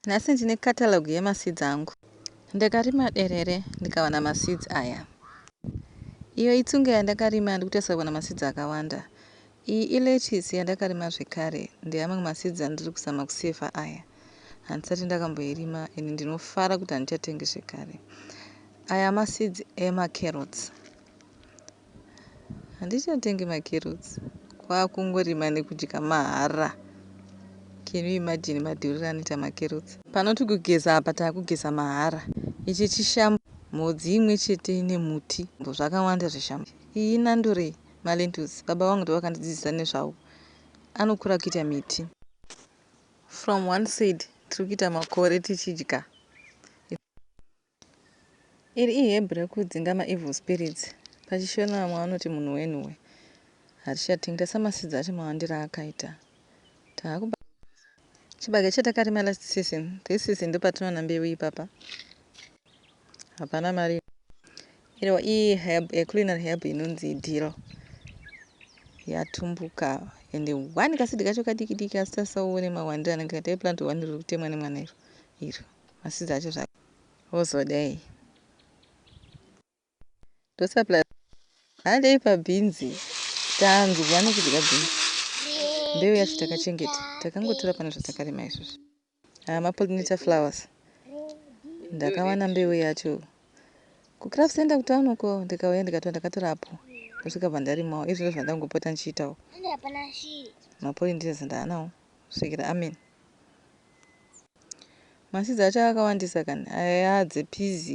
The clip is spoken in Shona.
Nhasi ndine catalogue yema seeds angu. Ndakarima derere ndikawana ma seeds aya. Iyo itsunga yandakarima ndikutarisa kuwana ma seeds akawanda. Iyi i lettuce yandakarima zvekare ndeamwe ma seeds andiri kuzama ku saver aya. Handisati ndakamboirima and ndinofara kuti handichatengi zvekare. Aya ma seeds ema carrots. Handichatengi macarrots kwakungorima nekudya mahara can you imagine madhuriro anoita macarrots. Panoti kugeza apa takugeza mahara. Ichi chishambo mhodzi imwe chete ine muti zvakawanda zvishambo. Iyi inandurei malentils baba vangu ndovakandidzidzisa nezvawo anokura kuita miti. From one side tiri kuita makore tichidya. Iri iHebhu rekudzinga maEvil Spirits, paChiShona vamwe vanoti munhu wenhuhwe. Harishati, ndirasa maseeds acho mawandire aakaita. Tava kubatanidza chibage chatakarima last season, this season ndopatinowana mbeu ipapa. Hapana mari inobuda. Iriwo iHerb, a culinary herb inonzi dill. Yatumbuka ende one kaseed kacho kadiki diki asi tarisawo uone mawandire anenge akaita. Iplant one riri kutemwa nemwana iro. Asi dzacho zvako wozodei ndosa plus handei pabhinzi tanzwa nekudya bhinzi mbeu yacho takachengeta takangotora pane zvatakarima izvozvo aya mapollinator flowers ndakawana mbeu yacho kucraft center kutown uko ndikauya ndikatora ndakatora apo ndosvika bva ndarimawo izvi ndo zvandangopota ndichiitawo mapollinator ndaanawo svikira amen Maseeds acho akawandisa kani. Aya yaa dze pizzy.